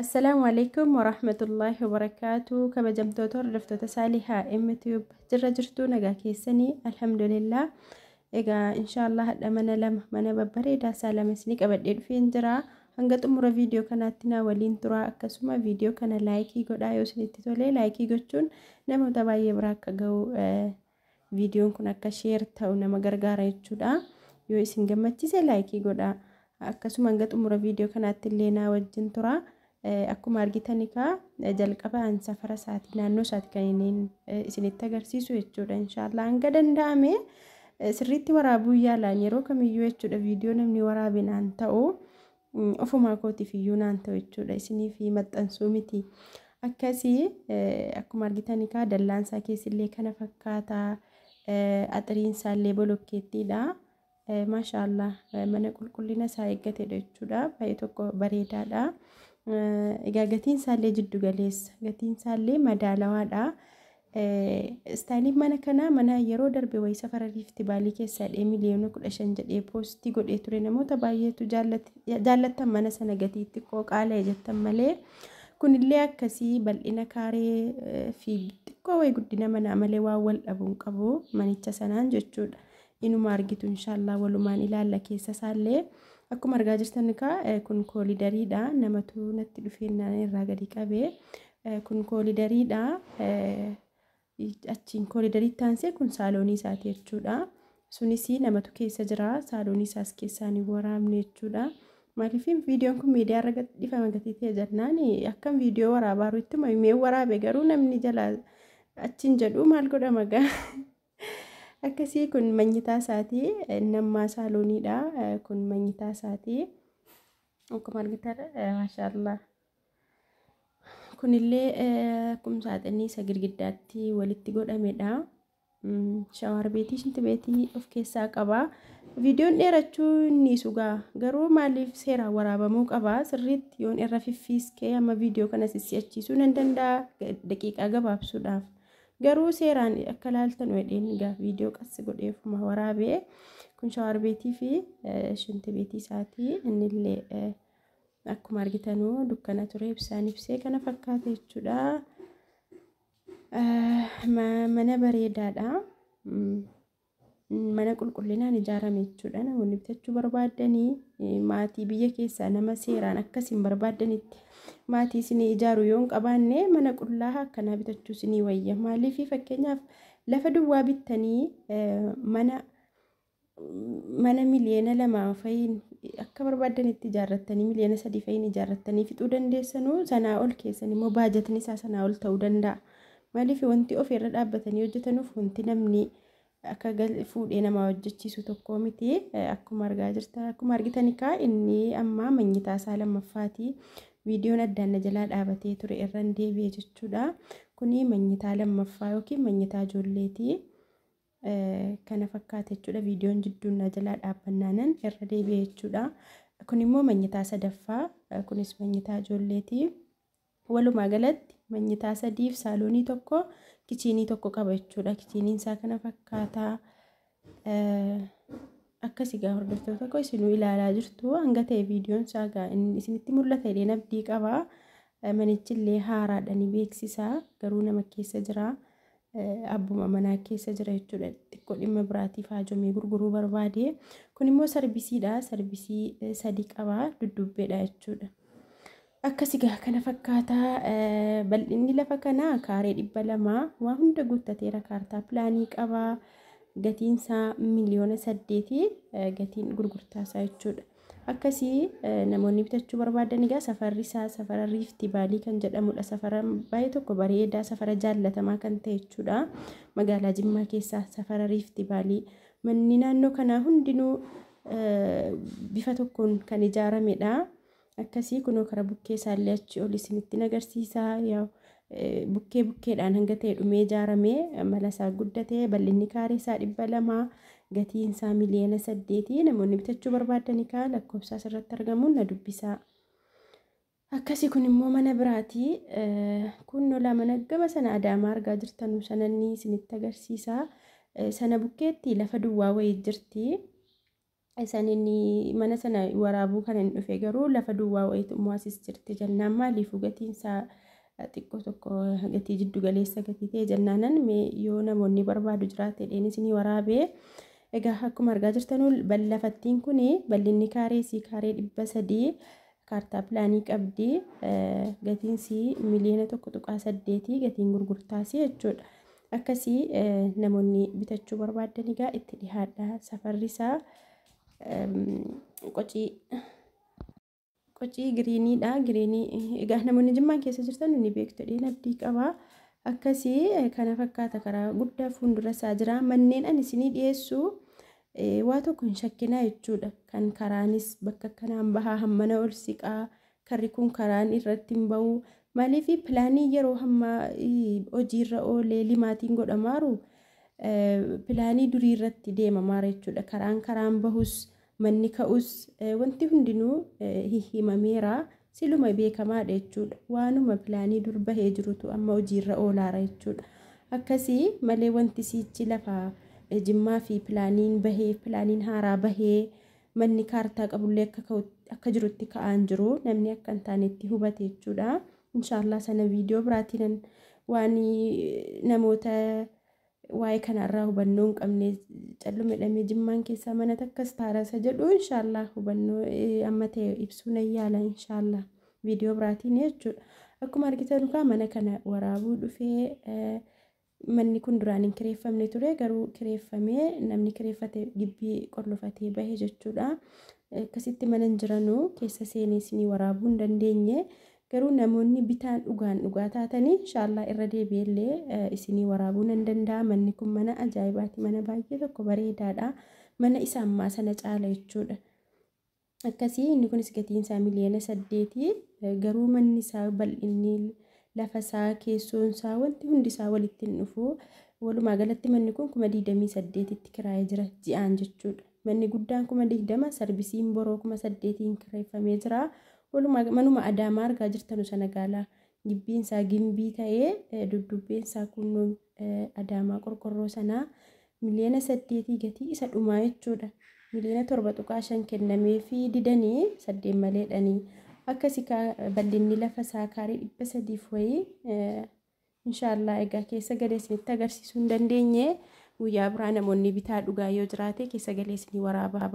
Assalaamu alaikum warahmatullaahi wabarakaatu kabajamtoota hordoftoota saalihaa mtube jirra jirtuu nagaa keessanii alhamdulillah egaa inshaallah hadha mana lama mana babbareedaa isaa lama isinii qabadhee dhufeen jira hanga xumura viidiyoo kanaatti naa waliin turaa akkasuma viidiyoo kana laayikii godhaa yoo isinitti tolee laayikii gochuun namoota baay'ee biraa akka ga'u Viidiyoon kun akka sheer ta'u nama gargaara jechuudha. Yoo isin gammachiise laayikii godhaa. Akkasuma hanga xumura viidiyoo kanaatti illee naa wajjin tura. Akkuma argitan egaa jalqaba an safara isaati naannoo isaati kan inni isinitti agarsiisu jechuudha. Inshaallah hanga danda'ame sirriitti waraabuu yaalaan yeroo kamiyyuu jechuudha viidiyoo namni waraabinaan ta'u. Ofumaa kootiif iyyuu naan ta'u jechuudha. Isiniif maxxansuu miti. Akkasii akkuma argitan egaa dallaan isaa keessillee kana fakkaata. Axiriin isaa illee bolokkeettiidha. Maashaallah mana qulqullina isaa eeggatedha jechuudha. Baay'ee tokko bareedaadha. Egaa gatiin isaa illee jiddu galeessa. Gatiin isaa illee madaalawaadha. Istaayiliin mana kanaa mana yeroo darbe wayii safara riifti baalii keessaa dhee miliyoona kudha shan jedhee poostii godhee ture namoota baay'eetu jaallattan mana sana gatii xiqqoo qaala'e jettan malee kunillee akkasii bal'ina kaaree fi xiqqoo wayii guddina manaa malee waan wal dhabuun qabu manicha sanaan jechuudha. Inuma argitu inshaallah walumaan ilaalla keessa isaallee akkuma argaa jirtan kaa kun koolidariidha namatu natti dhufeennaan irraa gadi qabee. Kun koolidariidha. Achiin koolidariitti aansee kun saaloonii isaati jechuudha. Sunis namatu keessa jira. Saaloonii isaas keessaan hin waraabne jechuudha. Maaliif viidiyoon kun miidiyaa irra gadhiifama gatiitee jennaan akkam viidiyoo waraabaa jiru ittuma himee waraabe garuu namni jalaa achiin jedhu maal godhama gaa. Akkasii kun manyitaa isaati. Nammaa saalooniidha. Kun manyitaa isaati. Akkuma argitan maashaallah. Kunillee akkuma saaxinni isa girgiddaatti walitti godhamedha. Shawaar beetii shinti beetii of keessaa qaba. Viidiyoon dheerachuu inni sugaa garuu maaliif seeraan waraabamuu qaba sirriitti yoon irra fiffiiskee amma viidiyoo kana sissi'achiisuu nan danda'a daqiiqaa gabaabsuudhaaf. Garuu seeraan akka laaltan wedheen egaa viidiyoo qassi godheefuma waraabee kun shawaar beetii fi shinti beetii isaatii innillee Akkuma argitanu dukkana ture ibsaan ibsee kana fakkaata jechuudha. Mana bareedaadha. Mana qulqullinaan ijaarame jechuudha. Namoonni bitachuu barbaaddanii maatii biyya keessaa nama seeraan akkasiin barbaaddanitti maatii isinii ijaaru yoo hin qabaanne mana qullaa akkanaa bitachuu isinii wayya. Maaliif fakkeenyaaf lafa duwwaa bittanii mana mana miliyoona lamaan fa'iin akka barbaaddanitti ijaarrattanii miliyoona sadii fa'iin ijaarrattanii fixuu dandeessanuu sanaa ol keessan immoo baajatni isaa sanaa ol ta'uu danda'a. Maaliif wanti ofii irra dhaabbatanii hojjetanuuf wanti namni akka fuudhee namaa hojjechiisu tokkoo miti akkuma argaa jirta akkuma argitan kaa inni ammaa manyitaa isaa lammaffaati viidiyoon addaan na jalaa dhaabatee ture irraan deebi'e jechuudha kuni manyitaa lammaffaa yookiin manyitaa ijoolleeti. kana fakkaate jechuudha viidiyoon jidduun na jalaa dhaabbannaanan irra deebi'e jechuudha kun immoo manyitaa sadaffaa kunis manyitaa ijoolleeti walumaa galatti manyitaa sadiif saaloonii tokko kichiinii tokko qaba jechuudha kichiiniin isaa kana fakkaata akkasi gaa hordoftoota tokko isinuu ilaalaa jirtu hanga ta'e viidiyoon isaa gaa isinitti mul'ata illee nabdii qaba manichillee haaraadhani beeksisa garuu nama keessa jira. abbuma manaa keessa jira jechuudha. Xiqqoo dhimma biraatiif haajomee gurguruu barbaade. Kun immoo sarbisiidha. Sarbisii eh, sadii qaba. Dudduubbeedha jechuudha. Akkasi gaa kana fakkaata. Eh, Bal'inni lafa kanaa kaaree dhibba lama waa hunda guuttateera. Kaartaa pilaanii qaba. Gatiin isaa miliyoona saddeeti. Eh, Gatiin gurgurtaa isaa jechuudha. Akkasii namoonni bitachuu barbaadan egaa safarri isaa safara riiftii vaalii kan jedhamudha. Safara baay'ee tokko bareedaa safara jaallatamaa kan ta'e jechuudha. Magaalaa Jimmaa keessaa safara riiftii vaalii manni naannoo kanaa hundinuu bifa tokkoon kan ijaaramedha. Akkasii kunoo karaa bukkee isaallee achi ol isinitti agarsiisa. bukkee bukkeedhaan hanga ta'e dhumee ijaarame mala isaa guddate bal'inni kaaree isaa dhibba lama gatiin isaa miliyoona saddeeti namoonni bitachuu barbaadani kaa lakkoofsaa asirratti argamuun na dubbisaa. Akkasii kun immoo mana biraati kun lolaa mana gama sana adaamaa argaa jirtanu sananni isinitti agarsiisa sana bukkeetti lafa duwwaa wayii jirti. Isan inni mana sana waraabuu kan hin dhufe garuu lafa duwwaa wayitu immoo asis jirti jennaan maaliifuu gatiin isaa xiqqoo tokko gatii jiddu galeessa gatii ta'e jennaanan mee yoo namoonni barbaadu jiraate dheen isinii waraabee egaa akkuma argaa jirtanuu lafattiin kun bal'inni kaaree isii kaaree dhibba sadii kaartaa pilaanii qabdi gatiin sii miliyoona tokko tuqaa saddeetii gatiin gurgurtaasii jechuudha. Akkasii namoonni bitachuu barbaadan egaa itti dhihaadha. Safarri isaa qocii qocii giriiniidha. Giriinii egaa namoonni jimmaan keessa jirtan ni beektu dheen abdii qaba. Akkasii kana fakkaata karaa guddaa fuuldura isaa jira. Manneen ani isinii dhiyeessu Waa tokko hin shakkinaa jechuudha. Kan karaanis bakka akkanaan bahaa hammana ol siqaa karri kun karaan irratti hin ba'u. Maaliif pilaanii yeroo hammaa hojiirra oolee limaatiin godhamaaru pilaanii durii irratti deemamaara jechuudha. Karaan karaan bahus manni ka'us wanti hundinuu himameera. Siluma beekamaadha jechuudha. Waanuma pilaanii dur bahee jirutu amma hojiirra oolaara jechuudha. Akkasi malee wanti siichi lafa Jimmaa fi pilaaniin bahee pilaaniin haaraa bahee manni kaartaa qabullee akka ka'u- akka jirutti ka'aa hin jiru. Namni akka hin taanetti hubate jechuudha. Inshaallah sana viidiyoo biraatiinan waan namoota waa'ee kana irraa hubannoo hin qabne callume dhamee jimmaan keessaa mana takkas taarasa jedhu inshaallah hubannoo amma ta'e ibsuu nan yaala inshaallah viidiyoo biraatiin jechuudha. Akkuma argitan kaa mana kana waraabuu dhufee manni kun duraan hin kireeffamne ture garuu kireeffamee namni kireeffate gibbii qollofatee bahe jechuudha. Akkasitti mana hin jiranuu keessa seenee isinii waraabuu hin dandeenye. Garuu namoonni bitaan dhugaan dhugaa taatanii inshaallah irra deebi'ee illee isinii waraabuu nan danda'a manni kun mana ajaa'ibaati mana baay'ee tokko bareedaadha mana isa ammaa sana caala jechuudha. Akkasii inni kunis gatiin isaa miliyoona saddeeti garuu manni isaa bal'inni lafa isaa keessoon isaa wanti hundi isaa walitti hin dhufu walumaa galatti manni kun kuma digdamii saddeetitti kiraayee jira ji'aan jechuudha. Manni guddaan kuma 20 sarvisiin boroo kuma 8n kirreeffamee jira. Walumaa manuma Adaamaa argaa jirtanu sana gaala. Gibbiin isaa gimbii ta'ee duddubbeen isaa kunnuun Adaamaa qorqorroo sanaa miliyoona 8 gatii isa dhumaa jechuudha. Miliyoona 7.5 kennameefii didanii 8 maleedhani. Akkasi kaa bal'inni lafa isaa kaarii 300 fi wayii Inshaallah egaa keessa galee isinitti agarsiisuu hin dandeenye guyyaa biraa namoonni bitaa dhugaa yoo jiraate keessa galee isinii waraaba.